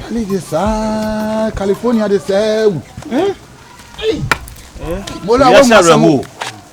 Cali de saa California de sɛɛ wu. Mo la wɔn mu asɛm o.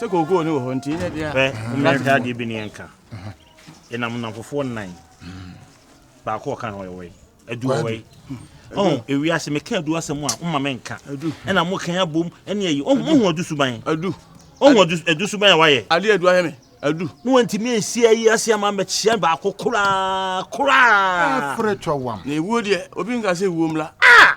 sɛ kookoo no wɔ hɔ nti ne deɛ mmerɛka adeɛ bi ne yɛnka ɛnam namfofoɔ nnan baako ɔka no ɔyɛwɔi adu ɔwɔi ɔn ewiase meka adu asɛm a woma me nka ɛna mo kan abom ɛne ayi ɔhu adu suban adu ɔhu adu suban a wayɛ adeɛ adu ayɛ me adu ne wantumi ansi ayi ase ama mɛkyia baako koraa koraa ɛkorɛ twawam na ewuo deɛ obi nka sɛ ewuo mmla ah!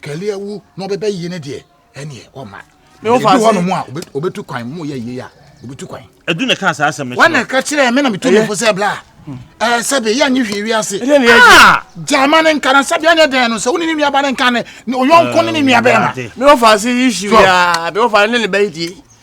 kɛlɛ awu na ɔbɛbɛ yie ne deɛ ɛneɛ ɔma ebi hɔ nom a ɔbɛtu kwan mu yɛ yie a ɔbɛtu kwan ɛdu ne kaa saa asɛm no wɔn na ɛka kyerɛ me na metu ne fo sɛ bla ɛɛ sɛbe yɛ nye hwee wi ase ah! gyama ne nka na sɛbe ɛne dɛn no sɛ wo ne ne nuaba ne nka ne ɔyɔnko ne ne nuabɛɛma me wɔfa ase yi hyi wia me wɔfa ne ne bɛyɛ die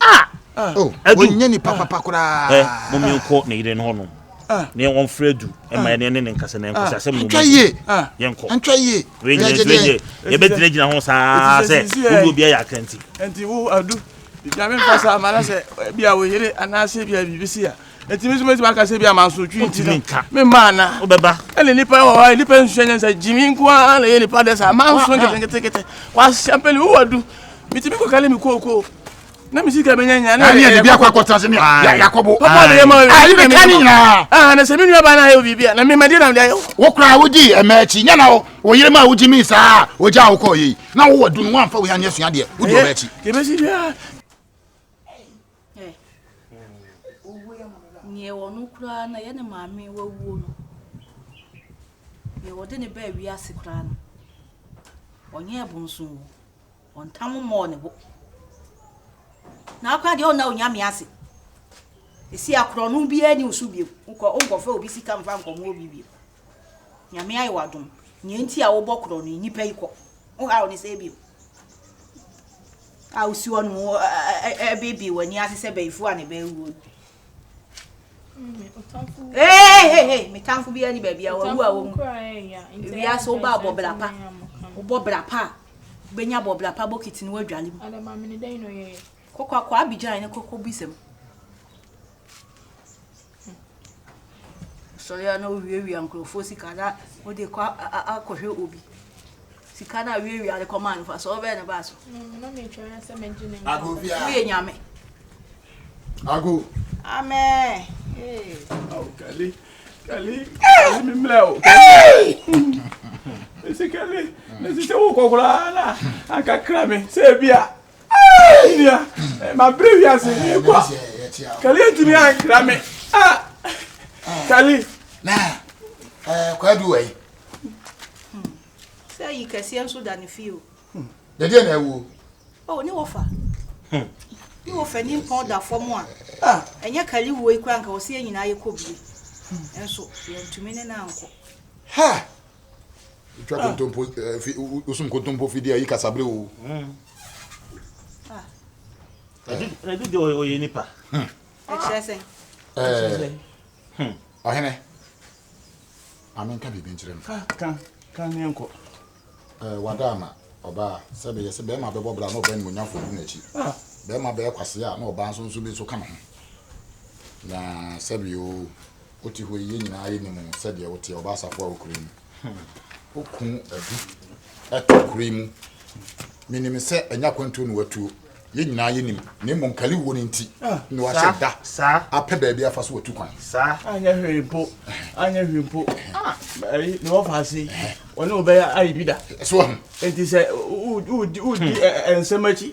Ah! Ah! Oh, Adu. Ɔnyɛ nipa papa koraa. Ɛ, mo menkɔ ne yere no hɔ nom. Ah. Na yɛn wɔn frɛ Adu. Ɛma ah. yɛn ne ne nkasa na yɛn kɔsɛ ah. asɛm na wɔn yie. Ah. Yɛn kɔ. Ntwa yie. Wei nyɛ nso yɛ. Yɛbɛ gyina gyina ho saa sɛ obi obi ayɛ akanti. Nti wo Adu. Nyame nfa saa ma na sɛ bia wo yere anaasɛ bia biribi si a Enti me nso mɛtumi aka sɛ bi a mansotwi nti no memma ana wobɛba ɛne nnipa wɔ hɔ a nnipa nsua nyɛ sɛ gyimi nko ara na ɛyɛ nnipa dɛ saa manso nketenketekete kwahyɛ mpɛne wo wadu metumi kɔkale me kookoo na me sika bɛnya nya na ɛyɛ bi akɔ akɔtena sɛ yakɔbo papa de yɛ ma ayi bɛ ka ne nyinaa ah na sɛ me nua ba na ayɛ wo biribi a na me ma de na de ayɛ wo kora wo di ɛmɛ akyi nya na wo wo yere ma wo gyi mi saa wo gya wo kɔ yi na wo wɔ dunu wo amfa wo yɛ anyɛ sua deɛ wo di ɛmɛ akyi yɛbɛsi bia Ɛ Nea ɛwɔ no koraa na ɛyɛ ne maame wawuo no Nea wɔde ne baa wiase koraa no Ɔnyɛɛ bonso o Ɔntam mmɔɔ ne bo Na akora deɛ ɔnna onyame ase Ɛsi akorɔ no biara ni wo so bio Wonkɔ wonkɔfa obi sika mfa nkɔmmoɔ obi bio Nyame ayɛ wo adom. Nea nti a wobɔ korɔ no, nnipa yi kɔ. Wohaw ne sɛɛ bio. A wosi hɔ nom ɛbebe w'ani ase sɛ bɛyifoɔ a ne bɛyɛ wuo no. Hey, hey, hey, me tamfo bi ani baabi a wawu a wɔn mu. Ewia so wobaa bɔ bra pa. Wobɔ bra pa a, wobɛnya bɔ bra pa bokiti no wadwale mu. Kɔkɔ akɔ Abidjan ne kɔkɔ bisɛm. Asɔre a na owiawia nkurɔfoɔ sika na wode kɔ akɔhwɛ obi sika na awiawia de kɔmaa no fa sɛ ɔbɛn ne baa so woyɛ nyame ago amen hey. oh, kali kali kali mi mlɛ o ɛsi kali ɛsi sɛ wokɔ koraa na ankakra me sɛ ebia Hey nua, eh, ma bere wi ase ni kwa. Kali etimi an kra me. Ah. Kali. Na. Eh, kwa du wai. Sɛ yi kɛseɛ nso da ne fie o. Dɛdeɛ na ɛwuo. O, ne wɔfa. Ne wɔfa ni mpɔn da fam a. Ɛnyɛ kali wuo yi kora nka wɔsi yɛ nyinaa yɛ kɔ bie. Nso, yɛntumi ne no ankɔ. Ha! Twa ah. kontompo eh, fi, usum kontompo fidie ayi kasabre o. Hmm. Ah. Ɛdu de ɔyɛ nipa. Hmm. Ɛkyerɛ sɛ. Ɛkyerɛ eh. hmm. Ɔhene. Maame nka biribi nkyerɛ no. Ka ka ne nkɔ. Ɛɛ eh, wada ama ɔbaa sɛ bɛyɛ sɛ bɛrima bɛbɔ bra na ɔbɛn ne onyafo gu n'akyi. Ah. Bɛrima bɛyɛ kwasea na ɔbaa nso nso bi nso ka ne ho. Na sɛbi o. Wo te hɔ yi, yɛn nyinaa yɛ nim wo sɛdeɛ wo teɛ, ɔbaa safoa wɔ kuro yi mu. Wo kun abi ɛte kuro yi mu. Me nim sɛ ɛnyɛ akwantuo na watuo, yɛn nyinaa yɛ nim, na mmom kali wuo no nti na wahyɛ da apɛ baabi afa so watu kwan. Saa, anyɛ hwee mpo, anyɛ hwee mpo, ah, ɛyi, ne wɔfa ase, wɔne wo bɛyɛ ayi bi da. So ahu. Enti sɛ, wo, wo, wo, wo di nsɛm akyi,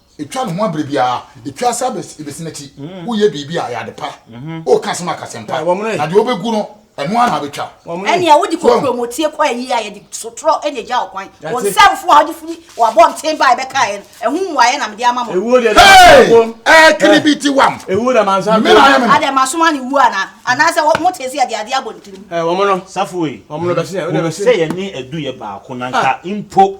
Etwa ne ho abere biara. Etwa ase abesi n'akyi. Woyɛ biribi a, ɛyɛ ade pa. Woka asɛm a, ka asɛm pa. Na deɛ wobɛgu no, ɛno ara na abɛtwa. Ɛnneɛ wode kɔ kuromotie kɔ ayi a, yɛde sotorɔ na egya wo kwan. Wo nsɛmfo a wode firi w'abɔnten baeɛ bɛkaeɛ no, ɛho mmuaeɛ na mede ama mo. Hei! Ɛkiribiti wam! Me na ayɛ me no. Adɛn, masoma ne wuo anaa? Anaasɛ mote sɛ yɛde adeɛ abɔ ne tirim? Safo ei, hunu sɛ yɛne Adu yɛ baako, na anka mpo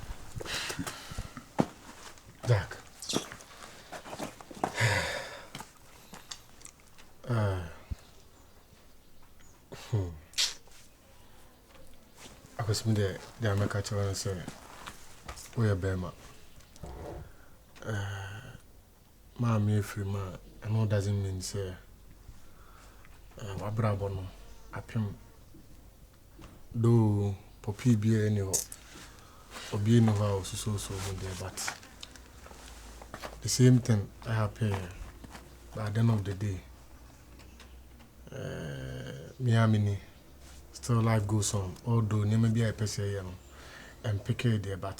Jack. Ah. Hmm. Akosum deɛ deɛ amɛka kyerɛ no sɛ woyɛ bɛrima. Ah. maame afirim a, ɛno doesn't mean sɛ eh, wabrabɔ no apem. Though pɔpii biara ni hɔ, obi ni hɔ a osusuosuo ho deɛ but the same thing happen by the end of the day. Uh, me a mini still life goes on although nneɛma bi a yɛpɛ sɛ yɛyɛ no ɛmpekee deɛ but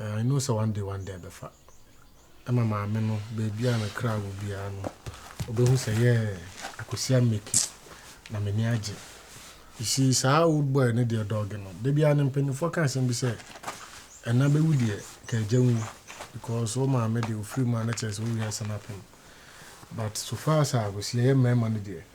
I know sɛ one day one day ɛbɛfa ɛma maame no baabi a ne kra wɔ biara no ɔbɛhu sɛ yɛɛ akɔsi ameki na m'ani agye si saa old boy ne deɛ dɔɔge no da biara ne mpanimfoɔ ka asɛm bi sɛ ɛna bɛwu deɛ ka agya wu because wo maame deɛ ofiri mu a na kyerɛ sɛ wo wiase no apem but so far as a akɔsi yɛyɛ mmarima no deɛ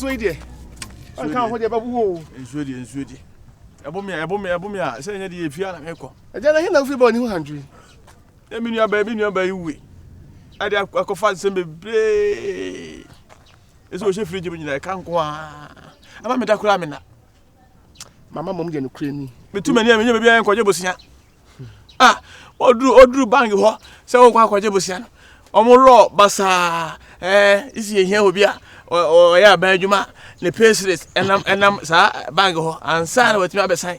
nsuo yi deɛ ɔnka ho deɛ bɛbu o nsuo deɛ nsuo deɛ ɛbo mi a ɛbo mi ɛbo mi a sɛ ɛnyɛ deɛ efia na mekɔ ɛdeɛ na hena fi bɔ ne ho handwo yi ɛmi nua bɛɛ mi nua bɛɛ yi wue ɛde akɔfa nsɛm bebree Ese o hyɛ fridge mu nyina ɛka nko a. Ama me da kura me na. Mama mom gye no kura ni. Me tu mani a me nya baabi a nkɔgye bosia. Ah, oduru oduru bank hɔ sɛ wo nkɔ akɔgye bosia no. Ɔmo lɔ basaa. Eh, isi ehia obi a ɔyɛ aban adwuma ne pay slip ɛnam ɛnam saa bank hɔ ansa na watumi abɛsan.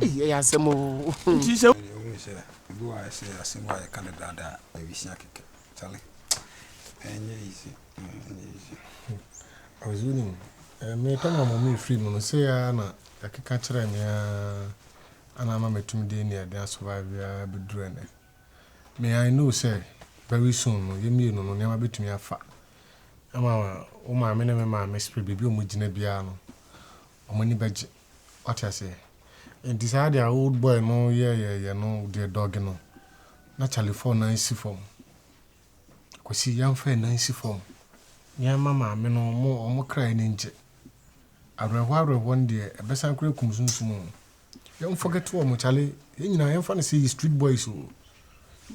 Ei ɛyɛ asɛm o. Nti sɛ. Ɛyɛ wohu sɛ ebi wɔ a ɛsɛ asɛm a yɛka no daa daa a ɛresua kɛkɛ kyale ɛnyɛ easy ɛnyɛ easy. Ɔse wonim me time a mɔmee free mu no sei aa na yɛkeka kyerɛɛ me aa ana ama matumi de ania den a survive aa bɛduru ɛnɛ. Me I know sɛ very soon no yɛ mmienu no nneɛma bɛtumi afa ama wo maame ne me maame spirit baabi a ɔmo gyina biara no ɔmo ani bɛgye. Wate aseɛ? Nti saa deɛ a old boy no yɛɛyɛɛyɛ no deɛ dɔge no, na Charlie fɔ nan si fam. Kwasi, yɛmfa yɛn nan si fam na yɛmma maame no wɔn wɔn kra ani ngye. Awerɛhoɔ awerɛhoɔ no deɛ, ɛbɛsan koraa akum sunsum o. Yɛnforget wɔn, Charlie. Yɛn nyinaa, yɛmfa no sɛ yɛ street boys o.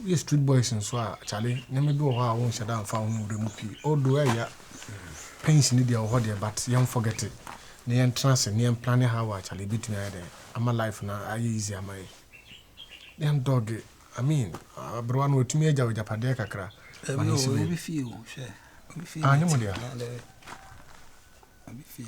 Woyɛ street boys nso a charlie nneɛma bi wɔ hɔ a wonhyɛ da mfa ho mbrɛ mu pii although ɛya pension ne deɛ wɔ hɔ deɛ but yɛn forget it na yɛn tena ase na yɛn plan how a charlie ebetumi ayɛ dɛ ama life na ayɛ easy ama yɛ yɛn dog I mean aberewa no watumi agya wagyapadeɛ kakra ma ne si baabi. Obi fie o hwɛ obi fie. Ah nyɛ mo deɛ. Obi fie.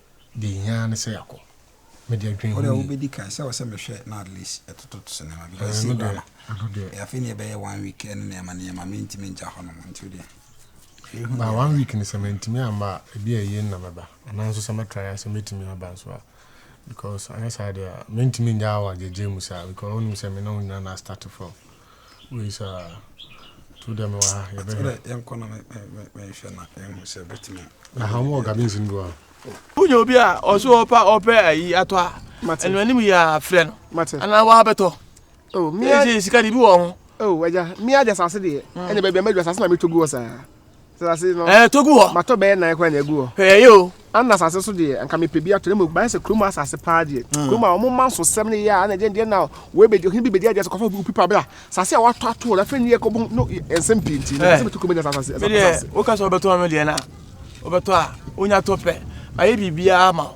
Deɛ yɛhia ara ne sɛ yɛakɔ. Mede adwene Wo deɛ ho yi. wobɛdi kan sɛ wɔ sɛ mehwɛ na at least ɛtotot cinema bi because Ɛɛ, ɛsɛ me kura deɛ, no ɛno deɛ. Eh, afei ne ɛbɛyɛ one week ɛne nneɛma nneɛma mentumi ngya hɔ nom nti wo deɛ hwɛ hu Ba deɛ one ɛbɛyɛ. week no sɛ mantumi amma a, ebi a ɛyie no na mɛba. Anaa nso sɛ mɛtra yɛ a sɛ mɛtumi aba nso a. Because anyɛ saa deɛ a, mentumi ngyaa wo agyagyaa mu saa because wonim sɛ me ne wo nyinaa na astarte from. Wei saa tu dɛ mewɔ ha yɛbɛ hwɛ. Yɛn kɔ na mɛ mɛ mɛ nhwɛ na yɛn ho sɛ bɛtumi. Na ha wɔn wɔ gardens ni bi a. Wúnyɛ obi a ɔso ɔpa ɔpɛ ayi atɔ a ɛnu anim yɛ afrɛ no anaa wa abɛtɔ. Oh mia sika de bi wɔ ho. Oh ɛja mia de asase deɛ ɛna baabi a mɛ de asase na mɛ tɔ gu wɔ saa. Asase no. Ɛɛ to gu hɔ. Matɔ bɛyɛ nan koraa na egu hɔ. Ɛɛ yɛ o. Ana asase so deɛ anka mepɛ bi ato na mmom bayɛ sɛ kurom asase paa deɛ. Mm. Kurom a wɔn ma nsosɛm ne yɛ a na ɛdeɛ deɛ na wei bɛ ɔhene bi bɛdi adeɛ sɛ kɔfa opi pa bra. Asase a wɔato ato na afei ne yɛ kɔbɔ no nsɛm pii nti. Ɛɛ. Sɛ bɛto kurom ne asase. Me deɛ woka sɛ wɔbɛtɔ ɔno deɛ na wɔbɛtɔ a wonya tɔ pɛ. Mayɛ biribiara ama wo.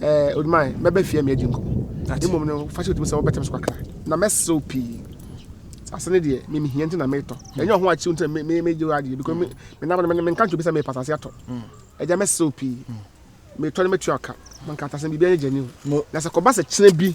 ɛɛ oduman mɛbɛ fie mi adi nkɔmɔ mmom no fa hyɛ otumi sɛ wɔbɛtɛm so kakra na mɛsew pii asase no deɛ mimi hia nti na metɔ ɛnyɛ ɔho akyiw nti na me me gye adeɛ because me me nam no me nka nkyɛn obi sɛ mepa asase atɔ ɛgya mɛsew pii metɔ no mɛtua ɔka manka asase no biribi anyɛ gyani o na sɛ kɔba sɛ kyerɛ bi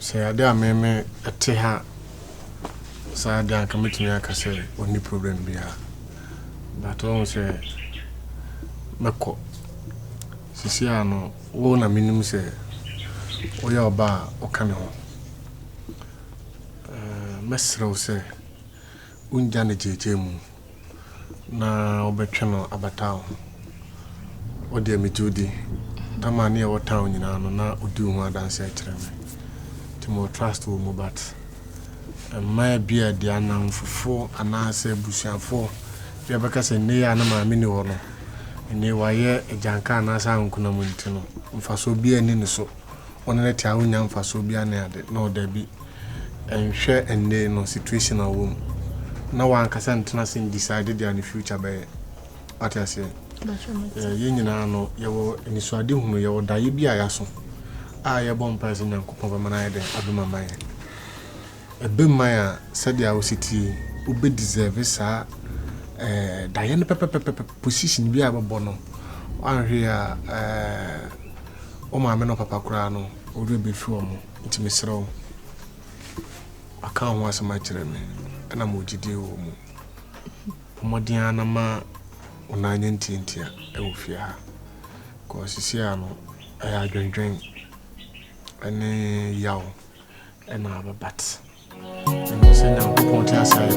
sɛ ade a meme te ha saa de anka mɛtumi aka sɛ ɔnni problem biara but ɔhu sɛ mɛkɔ sisi a no wo na menim sɛ woyɛ ɔba a woka me ho mɛserɛ wo sɛ Wongya no gyeegyee mu na wobɛtwe no aba town hɔ deɛ megye wo di. Tama ne ɛwɔ town nyinaa no na ɔdi wo ho adanseɛ kyerɛ me nti mewɔ trust wɔ mu but mma ebi a deɛ anamfofo anaasɛ abusuafo bi a bɛka sɛ nnɛ yi a ne maame ni hɔ no nnɛ wayɛ agyanka anaasɛ ankonam nti no mfasoɔ biara ni ne so. wo ne no te a wonnya mfasoɔ biara ne ade no dabi nhwɛ ɛnde no situation a ɔwɔ mu na wankasa ntena se decide deɛ ne future bɛyɛ wate aseɛ yɛn nyinaa no yɛwɔ anisoade hunu yɛwɔ daeɛ bi a yɛaso a yɛbɔ mpae sɛ nyankopɔn bɛma no ayɛ dɛn abɛma ma yɛn Ɛbɛma a sɛdeɛ wosi te yi wobɛ deserve saa eh, daeɛ no pɛpɛpɛpɛ position bi a bɛbɔ no wanhwɛ a eh, wo maame no papa koraa no ɔwerɛ bɛfi wɔ mo nti mesrɛ wo aka ho asɛm akyerɛ me ɛna ma ɔgyidie wɔ mu mmɔden a na ma wo na anyɛ ntiantia ɛwɔ fie ha kɔɔ sisi a no ɛyɛ adwendwen ɛne yaw ɛna ababat ɛno sɛ nyankopɔn te asa yɛ